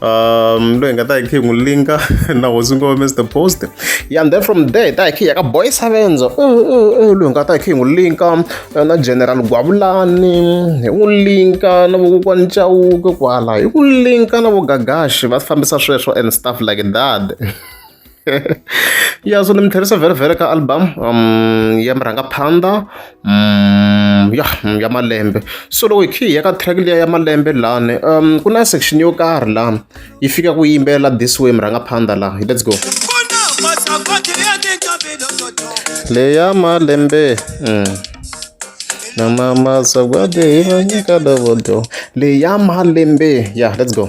um loyi hi nga ta hi khe hi n'wi linka na hosi ngo mr post ya and then from there hi ta hi khe hi ya ka boy savenza eh, eh, eh, loyi hi nga ta hi khe hi n'wi linka na general gwavulani hi n'wi linka na vokokwani chawuke kwala hi ku linka na vogagashi va fambisa sweswo and stuff like that ya so ni mi tlherisa vherevhere ka album um ya murhangaphandha um ya ya malembe so loko hi khe hi ya ka track liya ya malembe lani um ku na section yo karhi lani yi fika ku yimbelela this way murhangaphandha laha let's go leya malembe mm. na mama sagwade ivanyika dovodo leya malembe ya yeah, let's go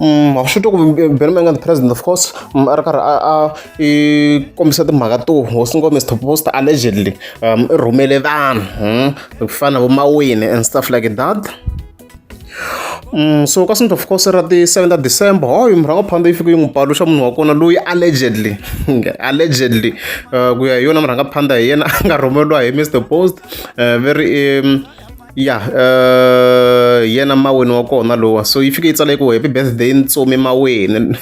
Mm, wa swi twa ku belo ma nga the president of course mm, a ri karhi a a i kombisa timhaka to hosi ngo mr post allegedly um i rhumele vanhu mm, ku fana na vomawini and stuff like that Mm, so ka sinto of course ra ti 7 ta december hoyo murhango phanda yi fike yi n'wi paluxa munhu wa kona loyi allegedly allegedly uh, ku ya hi yona murhanga phanda hi yena a nga rhumeriwa hi mr post uh, very um, ya yeah, uh, yena maweni wa kona lowa so yi fike yi tsala ku happy birthday ntsumi maweni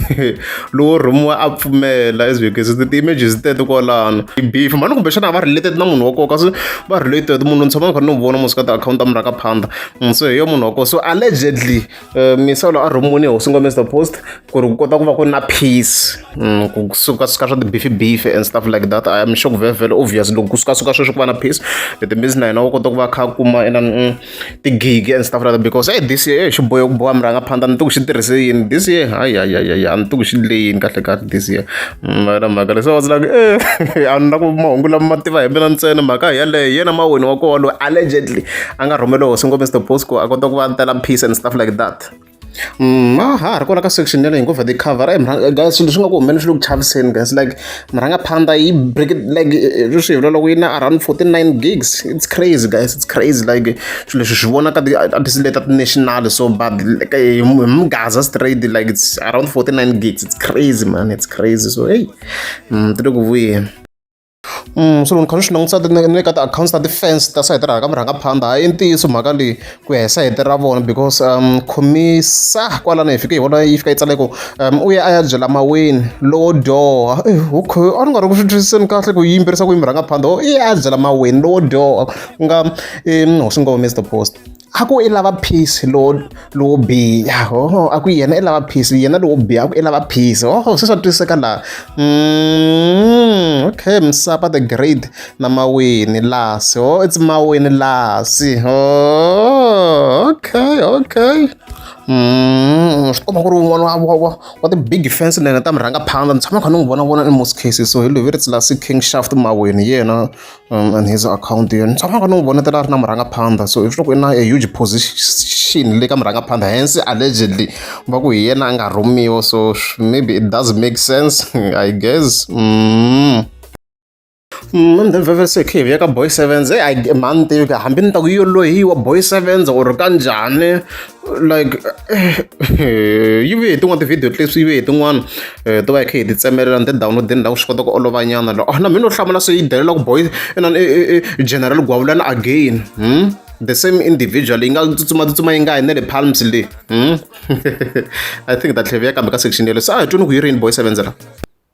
lowo rhumiwa a pfumela as because ti-images teto kwalano beef mani kumbexana a va related na munhu wa koka so va related munhu ni tshama ni kha ni n'wi vona musikati akhawunti a mi ra ka phanda mm, so hi yo munhu wa kona so allegedly eh, misolo a rhumuni hosi ngome the post ku ri ku kota ku va ku na peace mm, ku sukasuka swa tibifi bifi and stuff like that i am sure ku very very obvious loko ku sukasuka sweswo ku va na peace it means na yena u kota ku va kha kuma ina mm, tigigi and stuff like that because hey this year xi boyo ku boha murhangaphandza ni ti ku xi tirhise yini this year hayi hayi hayi hayi a ni ti ku xi le yini kahle kahle this year Yona mhaka leyi se I was like eeh a ni na ku mahungu lama ma tiva hi mina ntsena mhaka hi yeleyo hi yena mawini wa koho loyi allegedly a nga rhumeriwa hosi ngo Mister Bosco a kota ku va a tela peace and stuff like that Mm, a ha ha ri kona ka section yaleyo hi ngo the cover eh mrhanga guys swilo swi nga ku humelela swi le ku chaviseni guys like mrhanga phanda yi break it like eh, eh, swi hi vula loko yi na around 49 gigs it's crazy guys it's crazy like swilo leswi swi vonaka leta ti-national so but hi mgaza straight like it's around 49 gigs it's crazy man it's crazy so hey mm, ti le ku vuyeni Mm, so loko kha swi langutisa ni le ka ti-accounts ta ti-fans ta sayiti ra ka murhangaphandha hayi i ntiyiso mhaka leyi ku ya hi sayiti ra vona because um khomisa kwalano hi fike hi vona yi fika yi tsale ku um u ya a ya byela maweni lowo dyoha eh, okay a ni nga ri ku swi twisiseni kahle ku yimbirisa ku yi murhangaphandha o i ya a byela maweni lowo dyoha ku nga hosi ngoma is the post a ku i lava peace lowo lowo biha oho a ku yena i lava peace yena lowo biha a ku i lava peace oho se swa twisiseka laha mm, okay msapa the great na mawini lasi oh it's mawini lasi oh okay okay mm, swi komba ku ri un'wana wa wa wa wa ti big fence nene ta mi rhanga phanda ni tshama kha ni n'wi vona vona in most cases so hi loyi ri tsilasi king shaft mawini yena and his akhawunti yona ni tshamaka ni n'wi vona tela a ri na murhangaphandha so if loko i na a huge position le ka murhangaphandha hence allegedly va ku hi yena a nga rhumiwa so maybe it does make sense i guess mm. mande mm, veve se khivi ya ka boy sevens eyi mhani tivi ka hambi ni ta ku yi yo lohiwa boy sevens or ka njhani like yi ve hi tin'wana ti-video leswi yi ve hi tin'wana to va hi kha hi ti tsemelela ni ti-download-ini la ku swi kota ku olovanyana lo na mina no hlamula se yi delela ku boy inani general gwavulani again hmm? the same individual yi nga tsutsumatsutsuma yi nga hi ne le palms le hmm? i think ta tlheviya kambe ka section yelo se a hi twini ku yi ri yini boy sevenzela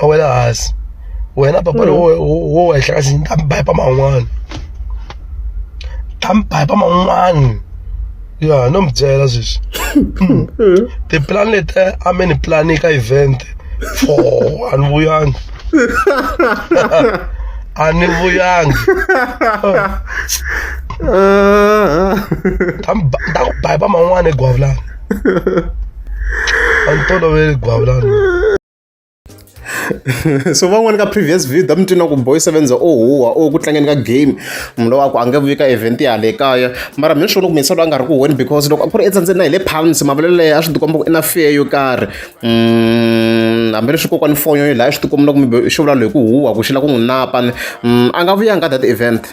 a wela hansi wena papa mm. lowo wo wehla kasi ni ta mi bipa man'wana ta mi bipa man'wana ya no mi byela sweswi mm. tipulani leti a mi ni pulani ka event fo a ni vuyanga a ni vuyanga ta ku bipa man'wana egwavulani a ni toloveli gwavulani so van'wani ka previous video mi twina ku boy seven za o huwa o ku tlangeni ka game munhu lowa ku a nge vuyi ka event ya le kaya mara mi ni swona ku minsa loyi a nga ri ku huweni because loko a ku ri etsandzeni na hi le pounds mavalelo leyi a swi tikomba ku i na fear yo karhi mm, hambileswi kokwani fonyo yo laha swi tikomba loko mi xi vula loyi ku huwa ku xi la ku n'wi napa mm, a nga vuyanga that event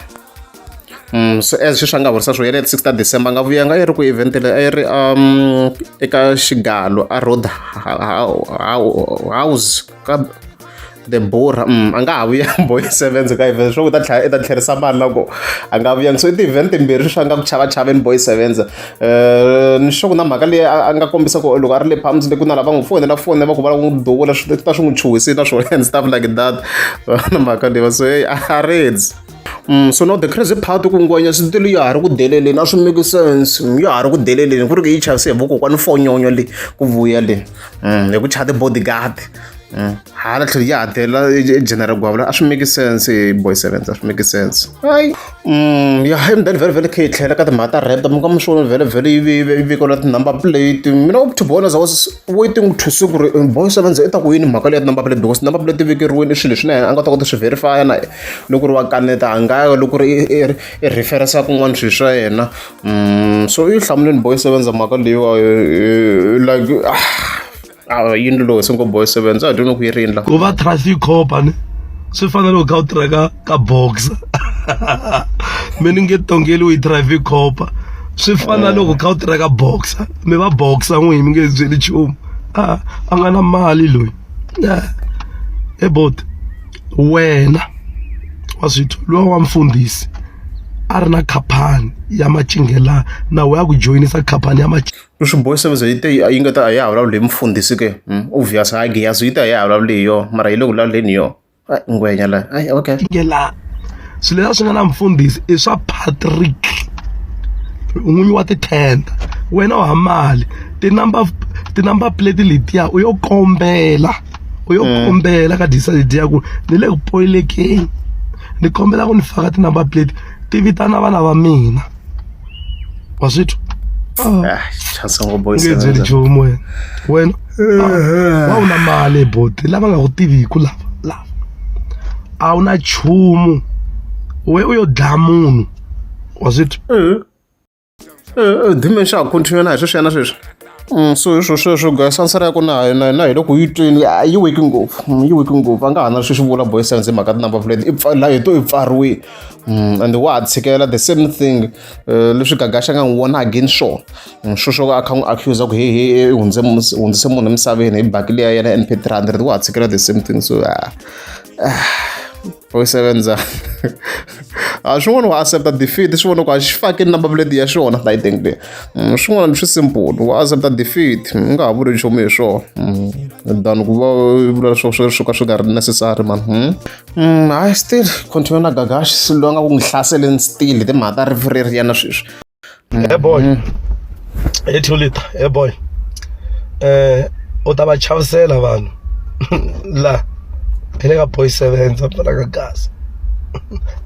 Mm, so as sweswi a nga horisa swo ya leri 6 ta december a nga vuya nga yi ri ku event leyi a yi ri um eka xigalo a road house ka the borha mm, a nga ha vuya boy sevens ka event swo ku ta tlhela i ta tlherisa mali loko a nga vuyanga so i ti-event timbirhi swi nga ku chava chaveni boy sevens um ni sure ku na mhaka leyi a nga kombisa ku loko a ri le palms le ku na lava n'wi fonela fonela va ku va lava n'wi duvula swi ta swi n'wi chuhisi na swona and stuff like that na mhaka leyi va so heyi a ridzi Mm, so now the crazy part ku ngwenya switulu ya ha ri ku deleleni a swi make sense ya ha ri ku deleleni ku ri ku yi chavise hi vokokwana fonyonyo leyi ku vuya leyi mm, hi ku chaya ti-bodyguard mm, hala tlhelo ya ha delela general gwavula a swi make sense boy sevens a swi make sense hayi ya hi mdani vhele vhele khe yi tlhela ka timhaka ta rap mi ka mi swona vhele vhele yi vikola ti-number plate mina u tibona za was waiting to see ku ri boy sevens i ta ku yini mhaka leyi ya ti-number plate because number plate ti vekeriweni i swilo leswi na yena a nga ta kota swi verifya na yena Loko ku ri wa kaneta a nga ya, loko ku ri i i i refer-isa kun'wana swilo swa yena. So i yi hlamulile boy sevenza mhaka leyiwani like a yi ni lunghisile ngopfu boy sevenza a hi twile ku yi rila. Ku va traffic cop a ni swi fana na loko u kha u tirha ka ka boxer mi ni nge tongeliwi hi traffic cop swi fana na loko u kha u tirha ka boxer mi va boxer n'wini mi nge byeli nchumu a a nga na mali loyi. He buti wena wa swi twa luya wa mfundhisi a ri na khaphani ya macingelani na wena ya ku joyinisa khaphani ya Swibohi service yi te yi nga ta a ya ha vulavuli hi mufundhisi ke obvious ha Giyazi yi te a ya ha vulavuli hi yona mara yi le ku vulavuleni hi yona. ngwenya la ai okay ngela swilo leswi nga na mfundhisi i swa Patrick n'winyi wa tithenda wena wa mali tinumber tinumber plate letiya u yo kombela u yo mm. kombela ka disayidi ya ku ni le ku poyilekeni ni kombela ku ni faka tinumber plate ti vitana vana va mina wazvithu ah, chasangoboisngenzeli nchumu wena wena ah, wa una mali boti lava nga ku tiviku lava lava a wu na nchumu we u yo dlaya munhu wazvithu eh, eh, eh, dimension continue na hi sweswi ya na sweswi Mm, so hi swo sweswo guys answer ya ku na na na hi loko yi tweni a yi weki ngopfu mm, yi weki ngopfu a nga ha na sweswi vula boy sense hi mhaka tinumber plate i pfa- laha hi to i pfariwile Mm, and wa ha tshikela the same thing eh, leswi gagaxa nga n'wi wona again sure Mm, sweswo a kha n'wi accusa ku he he i hundze mus- hundzise munhu emisaveni hi baki leya yena np 300 wa ha tshikela the same thing so ah, ah. u sevenza a swi vona ku accepta defeat swi vona ku a xi fakini number plate ya xona i think le mm, swin'wana swi simple ku accepta defeat u mm, nga ha vuli nchumu hi swona mm, than ku va vula swo swo swo ka swi nga ri necessary man hayi still continue na gagash loyi a nga ku n'wi hlaseleni still timhaka ta rifu ri ri yena sweswi Hey boy. Hey Tulita, hey boy. Eh u ta va chavisela vanhu la hi le ka boy seven va pfala ka gas.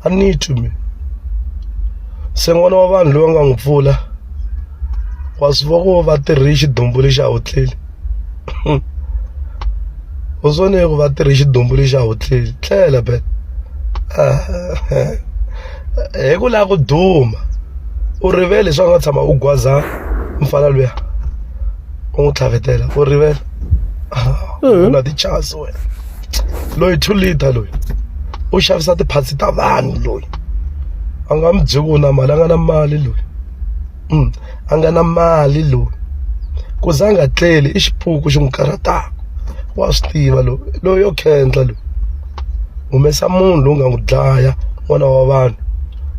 I need to me. Se n'wana wa vanhu loyi nga n'wi pfula wa swi vona ku va tirhi xidumbu lexi a wu tleli. u swone ku va tirhi xidumbu lexi a wu tleli tlela be ah, hi ku lava ku duma u rivele leswaku nga tshama u gwaza mfana luya u n'wi tlhavetela u rivele ah, u na tichasi wena loyi two liter loyi u xavisa tiphatsi ta vanhu loyi a nga mi byeki u na mali a nga na mali loyi mm, a nga na mali loyi ku za nga tleli i xipuku xi n'wi karhataka wa swi tiva loyi loyi yo khendla loyi humesa munhu lowu nga n'wi dlaya n'wana wa vanhu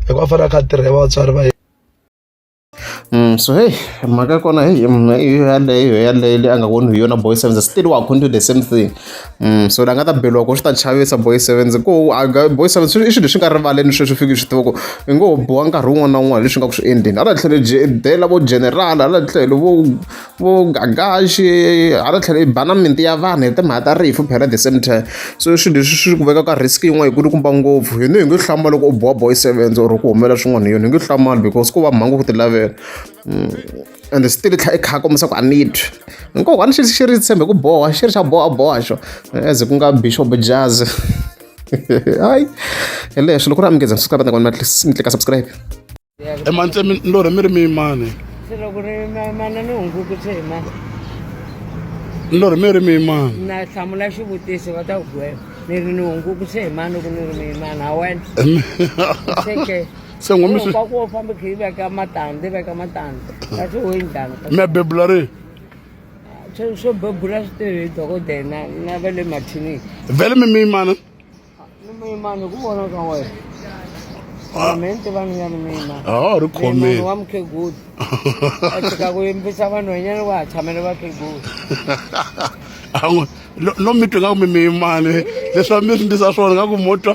hikuva fanele a kha a tirha hi vatswari va yena Mm, so hey mhaka ya kona hey mm, yaleyo yaleyo leyi a nga voni hi yona boy sevenza still wa continue the same thing so ni nga ta beriwa ku swi ta chavisa boy sevens ku boy sevens i swilo leswi nga rivaleni sweswi fiki swi tiva ku i ngo boha nkarhi wun'wana na wun'wana leswi nga ku swi endleni hala tlhelo dela vo general hala tlhelo vo vo gagaxi hala tlhelo i bana minti ya vanhu hi timhaka ta rifu phela the same time so i swilo leswi swi ku veka ka risk yin'wana yi kulukumba ngopfu hino hi nge hlamba loko u boha boy sevens or ku humelela swin'wana hi yona hi nge hlamali because ku va mhangu ku ti lavela ende swi tivi tlha i kha kombisa ku a ni twi nkoho a ni xi xi ri tshembe ku boha xi ri xa boha boha xo as ku nga bishop jazz hayi hi leswi loko ri amukeza subscribe ni kona ni tlika subscribe emantle mi lorhe mi ri miyimani se loko ri mana ni hunguku se hi mani ni lorhe mi ri miyimani na hlamula xivutiso va ta ku gwela ni ri ni hunguku se hi mani loko ni ri miyimani ha wena se ngo mi swi Kwa ku famba khe yi veka matandze veka matandze kasi wo yi njhani mi ya bebula ri swo swo bebula swi tirhi hi dokodela na na va le mathinini vhele mi miyimana ni muyimani ku vona ka wena Ah. me ni tiva ni nga ni muyimani a wa ha ri muyimani khomeni wa mukhegulu a tshika ku yimbisa vanhwanyana wa ha tshamele vakhegulu a n'wi lo- lo mi twi nga ku mi miyimani leswi va mi swi ndlisa swona nga ku mo twa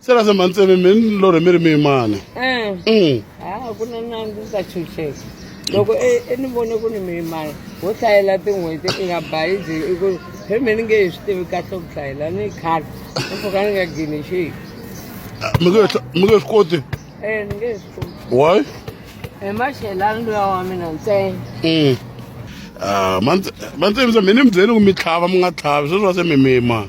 se la semba ntseve mi lo rhe mi ri miyimani Eh, Mm. ha ku na na ndzi ta chucheka loko e e ni vone ku ni miyimani wo hlayela tin'hweti i nga bayizi i ku he mi ni nge hi swi tivi kahle ku hlayela ni khale ni pfuka ni nga gini xihi mi nge hla- mi nge swi koti e ni nge swi tivi why hi maxelani luya wa mina ntsena Mm. Ah, mantse- mantsemisa mi ni mi byeli ku mi tlhava mi nga tlhavi sweswi va se mi miyimani